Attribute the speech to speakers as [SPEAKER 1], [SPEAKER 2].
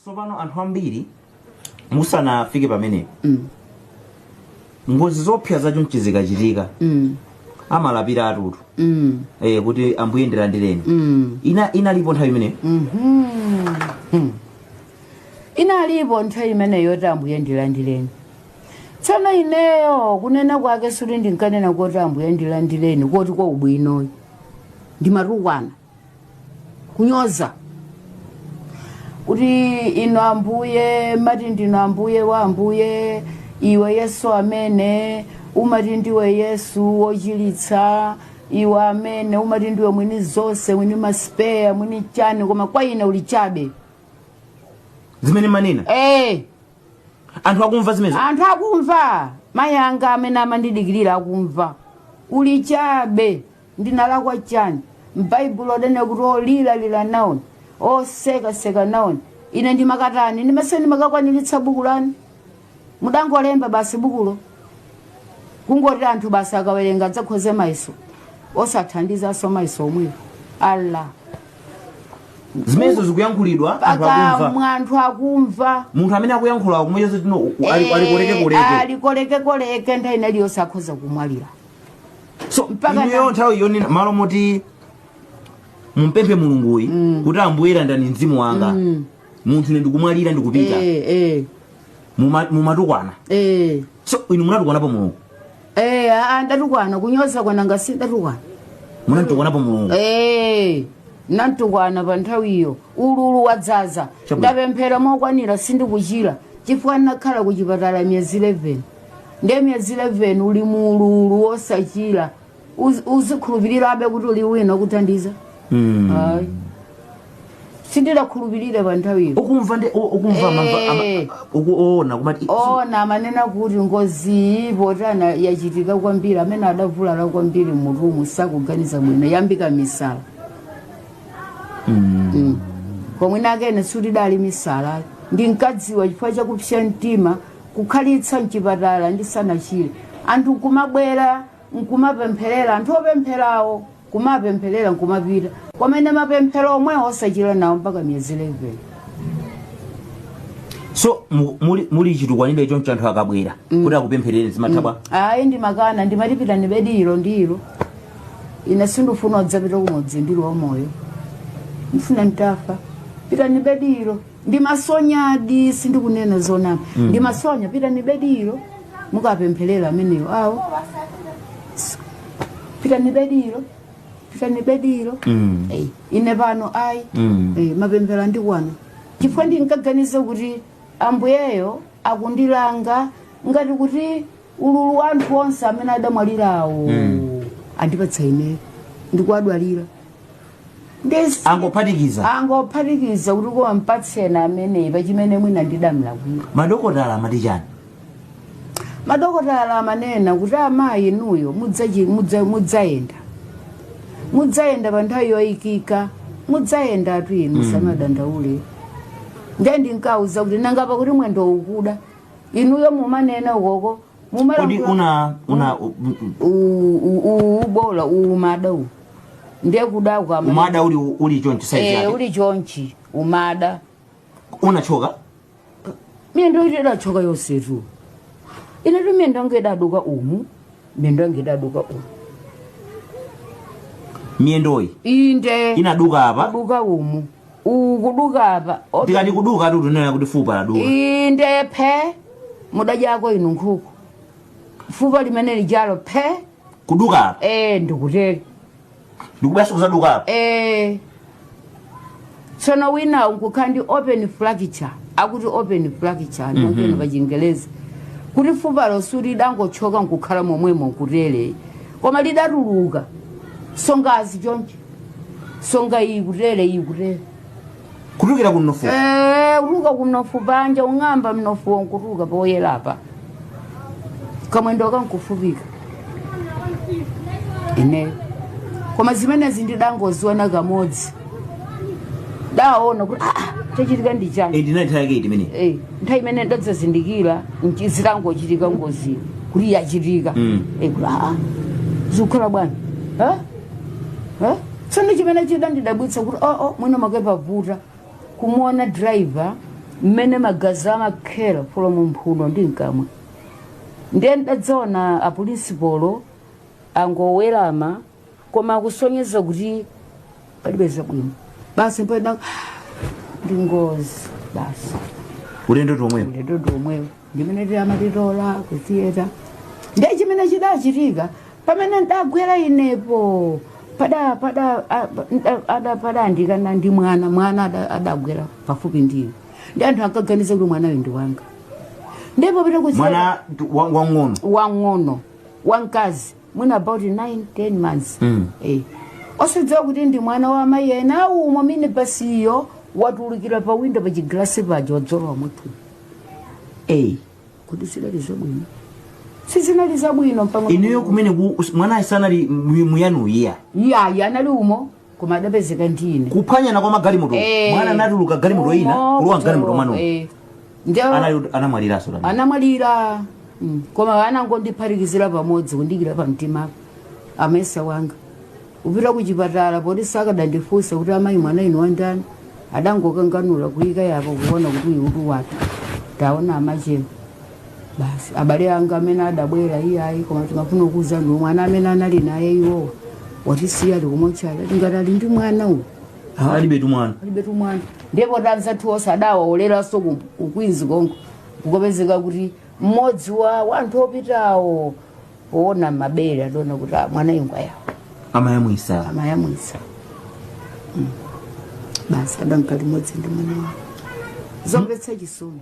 [SPEAKER 1] Tsopano, anthu ambiri, musanafike pamenepo, ngozi zoopsa zachonchi zikachitika, amalapiratutu eh, kuti ambuye ndilandireni. Ina inalipo nthawi imeneyo.
[SPEAKER 2] inalipo nthawi imeneyo yoti ambuye ndilandireni tsono ineyo kunena kwake suti ndinkanena kuti ambuye ndilandireni kuti kwa ubwinoyo ndimatukwana kunyoza kuti inu ambuye mumati ndinu ambuye wa ambuye iwe yesu amene umati ndiwe yesu wochiritsa iwe amene umati ndiwe mwini zonse mwini masipeya mwini chani koma kwa ine uli
[SPEAKER 1] chabe zimene mmanena
[SPEAKER 2] eh anthu akumva zimenezo
[SPEAKER 1] anthu akumva
[SPEAKER 2] mayi anga amene amandidikirira akumva uli chabe ndinalakwa chani? M'baibulo adanena kuti olira lira naoni, oseka seka naoni. Ine ndimakatani? Ndimesa ndimakakwaniritsa buku lanu? Mudangolemba basi bukulo. Kungoti anthu basi akawerenga adzakhoze mayeso. Osathandizanso mayeso omwewo.
[SPEAKER 1] Allah. zimenezo zikuyankhulidwa anthu akumva Pakamwa anthu
[SPEAKER 2] akumva. munthu amene akuyankhula
[SPEAKER 1] kumucheza tino ali- ali koleke koleke ali
[SPEAKER 2] koleke koleke nthawi inaliyonse akhoza kumwalira
[SPEAKER 1] so Mpaka inuyo na- nthawiyo ni malo moti mumpemphe mulunguyi kuti ambuye landirani mzimu wanga munthu ine ndikumwalira ndikupita Eh, eh, Muma- mumatukwana eh. so inu munatukwanapo mulungu Eh,
[SPEAKER 2] ah, ndatukwana kunyoza kwa nanga si ndatukwana
[SPEAKER 1] munamtukwanapo mulungu Eh,
[SPEAKER 2] namtukwana pa nthawiyo ululu wadzaza Chabwino. ndapemphera mokwanira sindikuchira chifukwa ndinakhala ku chipatala miyezi 11 ndiye miyezi 11 uli mu ululu wosachira uz- uzikhulupirirabe kuti uli wina akuthandiza Mm. ayi sindidakhulupirire pa nthawiyo ukumva ndi u- ukumva amamva- ama- Eh.
[SPEAKER 1] uku- oona kumati ona amanena
[SPEAKER 2] kuti ngoziyi potana yachitika kwambiri amene adavulala kwambiri mmutumu sakuganiza mwina yayambika misala Mm. Mm. pomwe nakane sikuti idali misala ndinkadziwa chifukwa chakupsa mtima kukhalitsa mchipatala ndisanachire anthu nkumabwera nkumapempherera anthu opempherawo kumapempherera nkumapita komabe mapemphero omwewo osachira nawo mpaka miyezi 11
[SPEAKER 1] so mu- muli, muli chitukwanire choncho anthu akabwera kuti akupempherere zimatha bwanji ayi
[SPEAKER 2] ndimakana ndimati pitani bedi ilo ndi ilo ine sindifuna kudzapita kumudzi ndili wamoyo ndifuna nditafa pitani bedi ilo ndimasonyadi sindikunena zonama mm. ndimasonya pitani bediro mukapempherera ameneyo awo pitani bediro pitani bediro mm. hey, ine pano ayi mm. hey, eh, mapemphero andikwana chifukwa ndinkaganiza kuti ambuyeyo akundilanga ngati kuti ululu wa anthu onse amene adamwalirawo Mm. andipatsa ine ndikuwadwalira angophatikiza
[SPEAKER 1] angophatikiza kuti koma
[SPEAKER 2] mpatseni ameneyi pachimene mwina ndidamlakwira madokotala amati
[SPEAKER 1] chani
[SPEAKER 2] madokotala amanena kuti amayi inuyo mudzachi- mudza- mudzayenda mudzayenda pa nthawi yoyikika mudzayenda tu inu musamadandaule ndiye ndinkawauza kuti nanga pakuti mwendo ukuda inuyo mumanena ukoko kodi mumalankhula
[SPEAKER 1] una
[SPEAKER 2] una u- u- u- u- u- ubola umada uwu ndiye kuda kwama umada uli uli
[SPEAKER 1] choncho size Eh, yake uli chonchi
[SPEAKER 2] umada unachoka miyendo iti idachoka yonsetu inetu miyendo yanga idaduka umu miyendo yanga idaduka umu
[SPEAKER 1] miyendoyi inde
[SPEAKER 2] inaduka apa aduka
[SPEAKER 1] umu
[SPEAKER 2] uwu kuduka apa Obe- ndikati kuduka
[SPEAKER 1] tu tunena kuti fupa laduka inde
[SPEAKER 2] phe mudadyako inu nkhuku fupa limene lijalo phe kuduka apa
[SPEAKER 1] e ndikuteri ndikubwerezanso kuzaduka apa e
[SPEAKER 2] tsono wina nkukhala ndi open fracture akuti open fracture ndikunena pa chingelezi kuti fupa lonse lidangothyoka nkukhala momwemo nkutere koma lidatuluka songazi choncho songa iyi kutere iyi
[SPEAKER 1] kutere kutulukira ku mnofu Eh, kutuluka
[SPEAKER 2] kumnofu panja ung'amba mnofu wo nkutuluka poyera apa kamwendo kankufupika ineyo koma zimenezi ndidangoziona kamodzi daona kuti "Ah, chachitika ndi chani edi inali nthawi yake iti imene
[SPEAKER 1] Eh, nthawi imene
[SPEAKER 2] ndidadzazindikira nchi- zitangochitika ngozi kuti yachitika Mm. Eh, kuti aa zikukhala bwanji Eh? tsono chimene chidandidabwitsa kuti oo oh, mwina mwake pavuta kumuona driver mmene magazi amakhera from mumphuno ndi mkamwa ndiye ndidadzaona apulinsipolo angowerama koma akusonyeza kuti palibe zabwino basi mpena ndi ngozi basi ulendo
[SPEAKER 1] tomwepo ulendo tomwepo
[SPEAKER 2] ndimene amatitola kuthiyeta ndiye chimene chidachitika pamene ndagwera inepo pada pada a- nda- ada padandikana ndi mwana mwana ada- adagwera pafupi ndiye ndi anthu ankaganiza kuti mwanayo ndi wanga ndipo pita kuchira mwana ndi-
[SPEAKER 1] wa-
[SPEAKER 2] wang'ono wang'ono wamkazi mwina about 9 10 months Mm. Eh. osadziwa kuti ndi mwana wa amayi ena umo minibasiyo watulukira pa windo pa chigalasi paja wadzalowa mutu eyi kodi sizidali zabwino sizinali zabwino mpang'ono ineyo kumene ku-
[SPEAKER 1] us- mwanayo sanali mu- muyanu iya yayi anali
[SPEAKER 2] umo koma adapezeka ndine kuphwanyana kwa magalimoto
[SPEAKER 1] Eh, mwana anatuluka galimoto ina umo, kulowa mgalimoto kucholowa, mwanu eh. Ndio- Anali- anamwaliranso tani
[SPEAKER 2] anamwalira Mm. koma anangondiphatikizira pamodzi kundiikira pamtima amesa wanga kupita kuchipatala poti sakadandifunsa kuti amayi mwanayu ndi wandani adangokanganula kuyika apo kuona kuti uyu utu wake taona amachema basi abale anga amene adabwera iyayi koma timafuna kuuzani mwana amene anali naye iwowa watisiya ali kumotchale tikuti ali ndi mwana uyu alibetu
[SPEAKER 1] mwana alibetu mwana
[SPEAKER 2] ndipo anzathu onse adawaoleranso ku- ku kwinzi konko kukapezeka kuti mmodzi wa wanthu opitawo kuona mabere adaona kuti "Ah, mwanayu ngwawo
[SPEAKER 1] amayamwisa amayamwisa
[SPEAKER 2] Mm. basi adamka limodzi ndi mwana wawo zomvetsa chisoni